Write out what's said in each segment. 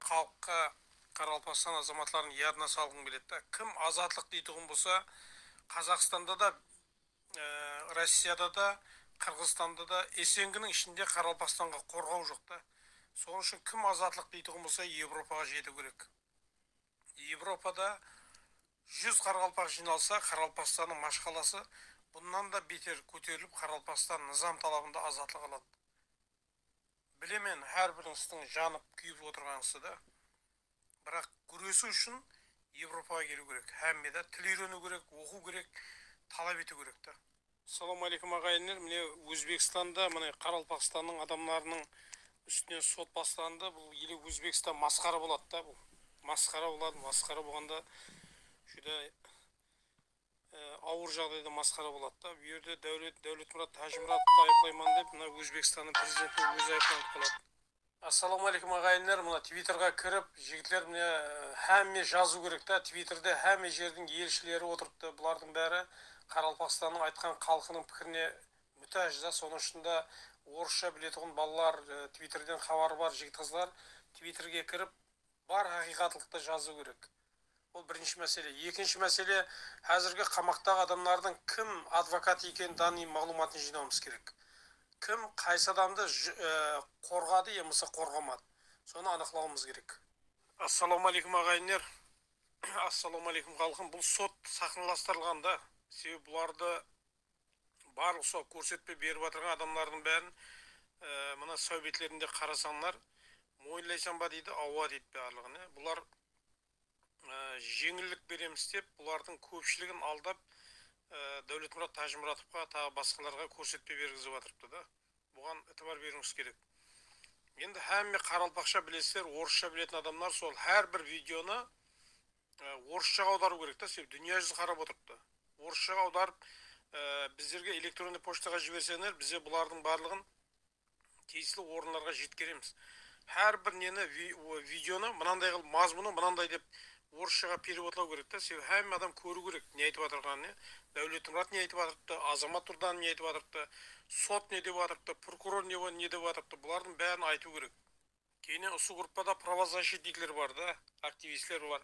Xalıqqa Qaraqalpaqstan azamatların yadına salǵıń keledi da kim azatlıq deytuǵın bolsa Qazaqstanda da Rossiyada da, Qırǵızstanda da, Esenginiń ishinde Qaraqalpaqstanǵa qorǵaw joq ta. Sonıń ushın kim azatlıq deytuǵın bolsa Evropaǵa jetiu kerek. Evropada júz Qaraqalpaq jıynalsa Qaraqalpaqstannıń mashqalası bunnan da beter kóterilip Qaraqalpaqstan nızam talabında azatlıq aladı. Bilemen hár bir ıstıń janıp kúyip otırǵansı da biraq gúresiu ushın Evropaǵa keliu kerek hámmeda til úyreniu kerek oqıu kerek talap etiu kerek da. Salam aleykum aǵayinler mine ózbekstanda mine qaraqalpaqstannıń adamlarınıń ústinen sot baslandı bul ele ózbekstan masqara boladı da bul masqara boladı masqara bolǵanda júdá awır jaǵdayda masqara boladı da bu yerde dáwlet dáwletmurat tájimuradovtı ayıplayman dep mına ózbekstanıń prezidenti ózi ayıplanıp qaladı. Assalawma aleykum aǵayinler mına tvitorǵa kirip jigitler mine hámme jazıw kerek ta tvitorda hámme jerdiń elshileri otırıptı bulardıń bári qaraqalpaqstannıń aytqan xalqınıń pikirine mútáj da sonıń ushında orıssha biletuǵın balalar tvitorden xabarı bar jigit qızlar tvitorge kirip Bar haqıyqatlıqtı jazıw kerek. Bul birinshi másele. Ekinshi másele, házirgi qamaqtaǵı adamlardıń kim advokat ekeni daniy maǵlıwmatın jıynawımız kerek. Kim qaysı adamdı qorǵadı yamasa qorǵamadı. Sonı anıqlawımız kerek. Assalawma áleykum aǵayinler. Assalawma áleykum xalqım. Bul sot saxnalastırılǵan da. Sebebi bulardı barlıq usal kórsetpe berip atırǵan adamlardıń bárin mına sáwbetlerinde qarasańlar moyınlaysań ba deydi awa deydi barlıǵın ya bular jeńillik beremiz dep bulardıń kópshiligin aldap Dáwletmurat Tájimuratovqa taǵı basqalarǵa kórsetpe bergizip atırıptı da buǵan itibar beriuińiz kerek endi hámme qaraqalpaqsha bilesizler orıssha biletin adamlar sol hár bir videonı Orısshaǵa awdarıw kerek ta sebep dúnya júzi qarap otırıptı orısshaǵa awdarıp bizlerge elektronniy pochtaǵa jiberseńler bize bulardıń barlıǵın tiyisli orınlarǵa jetkeremiz hár bir neni videonı mınanday qılıp mazmunı mınanday dep orısshaǵa perevodlaw kerek ta sebep hámme adam kóriw kerek ne aytıp atırǵanın ya Dáwletmurat ne aytıp atırıptı Azamat Durdanov ne aytıp atırıptı sot ne dep atırıptı prokuror ne dep atırıptı bulardıń bárin aytıw kerek. Kene usı gruppada pravozasshitnikler bar da, aktivistler bar.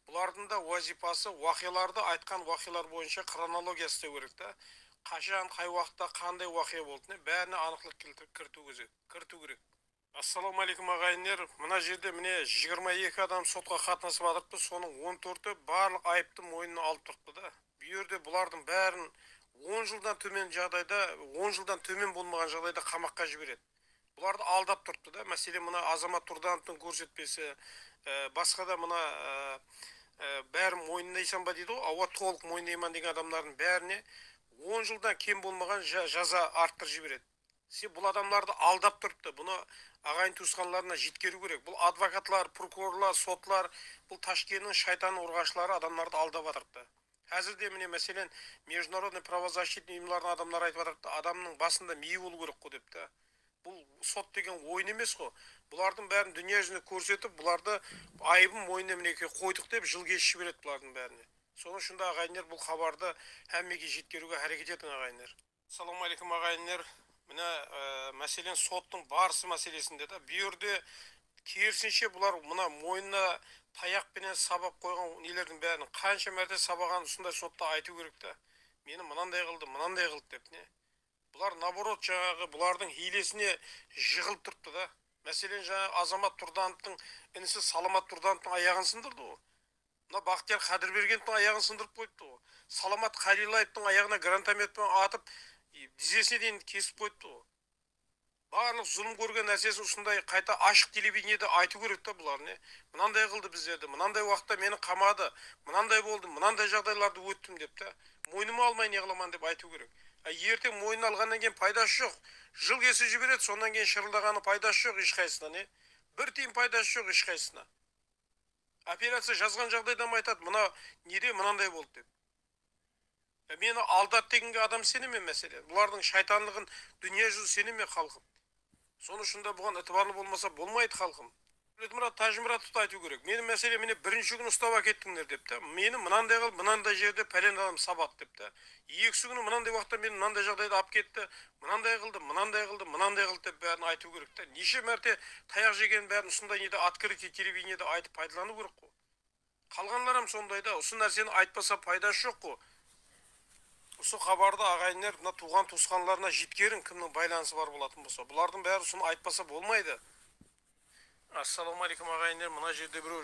Bulardıń da wazıypası waqıyalardı aytqan waqıyalar boyınsha xronologiya isleu kerek da, qashan, qay waqıtta, qanday waqıya boldine bárine anıqlıq keltirip kiritiw kerek. Assalawma áleykum aǵayinler, mına jerde mine jigirma eki adam sotqa qatnasıp atırıptı, sonıń on tórti barlıq ayıptı moynına alıp turıptı da, bul jerde bulardıń bárin on jıldan tómen jaǵdayda, on jıldan tómen bolmaǵan jaǵdayda qamaqqa jiberedi. Bulardı aldap turıptı da máselen mına Azamat Turdanovtıń kórsetpesi basqa da mına bárin moyınlaysan ba deydi ǵo awa tolıq moynayman degen adamdardın bárine on jıldan kem bolmaǵan jaza arttırıp jiberedi sen bul adamdardı aldap turıptı bunı aǵayin tuısqanlarına jetkeriu kerek bul advokatlar prokurorlar sotlar bul tashkeniń shaytan urǵashları adamdardı aldap atırıptı. Házir de mine máselen mejdunarodnıy pravozasshitniy uyımlardıń adamları aytıp atırıptı, adamnıń basında miyi bolıu kerek ǵo dep ta. Bul sot degen oyın emes ǵo. Bulardıń bárin dúnya júzinde kórsetip, bulardı ayıbın moynına mineke qoydıq dep jıl keship jiberedi bulardıń bárine. Sonıń ushında aǵayinler bul xabardı hámmege jetkeriuge háreket etiń aǵayinler. Salam aleykum aǵayinler mine máselen sottıń barısı máselesinde de bu jerde kerisinshe bular mına moynına tayaq penen sabap qoyǵan nelerdiń bárin qansha márte sabaǵanın usınday sotta aytıu kerek ta meni mınanday qıldı mınanday qıldı dep ne bular naborot jańaǵı bulardıń hiylesine jıǵılıp turıptı da máselen jańaǵı Azamat Turdanovtıń inisi Salamat Turdanovtıń ayaǵın sındırdı ǵo Mına Baxtiyar Qadirbergendiń ayaǵın sındırıp qoyıptı ǵo. Salamat Qaylilayevtıń ayaǵına grantomet penen atıp, dizesine deyin kesip qoyıptı ǵo. Barlıq zulım kórgen nársesin usınday qayta ashıq televideniede aytıu kerek ta bular ne? Mınanday qıldı bizlerdi, mınanday uaqıtta meni qamadı, mınanday boldı, mınanday jaǵdaylardı óttim dep ta. Moynıma almay ne qılaman dep aytıu kerek. A erteń moynına alǵannan keyin paydası joq. Jıl kesip jiberedi, sonnan keyin shırıldaǵanıń paydası joq eshqaysısına ne? Bir tiyin paydası joq eshqaysısına. Operaciya jazǵan jaǵdaydam aytadı mına nede mınanday boldı dep. Meni aldadı deginge adam iseneme máselen. Bulardıń shaytanlıǵın dúnya júzi iseneme xalqım. Sonı ushın da buǵan itibarlı bolmasa bolmaydı xalqım. Dawletmurat Tajimuratovtı aytıu kerek. Meni máselen mine birinshi kúni ustap ákettińler dep ta. Meni mınanday qılıp mınanday jerde pályan adam sabadı dep ta. Ekisi kúni mınanday uaqıtta meni mınanday jaǵdayda alıp ketti. mınanday qıldı, mınanday qıldı, mınanday qıldı dep bárin aytıu kerek ta, neshe márte tayaq jegenin bárin usınday nede otkrytый televideniyada aytıp paydalanıu kerek ǵo. Qalǵanlar hám sonday da, usı nárseni aytpasa paydası joq ǵo. Usı xabardı aǵayinler mına tuuǵan tuısqanlarına jetkeriń kimniń baylanısı bar bolatın bolsa, bulardıń bári usını aytpasa bolmaydı. Assalawma aleykum aǵayinler mına jerde bireu.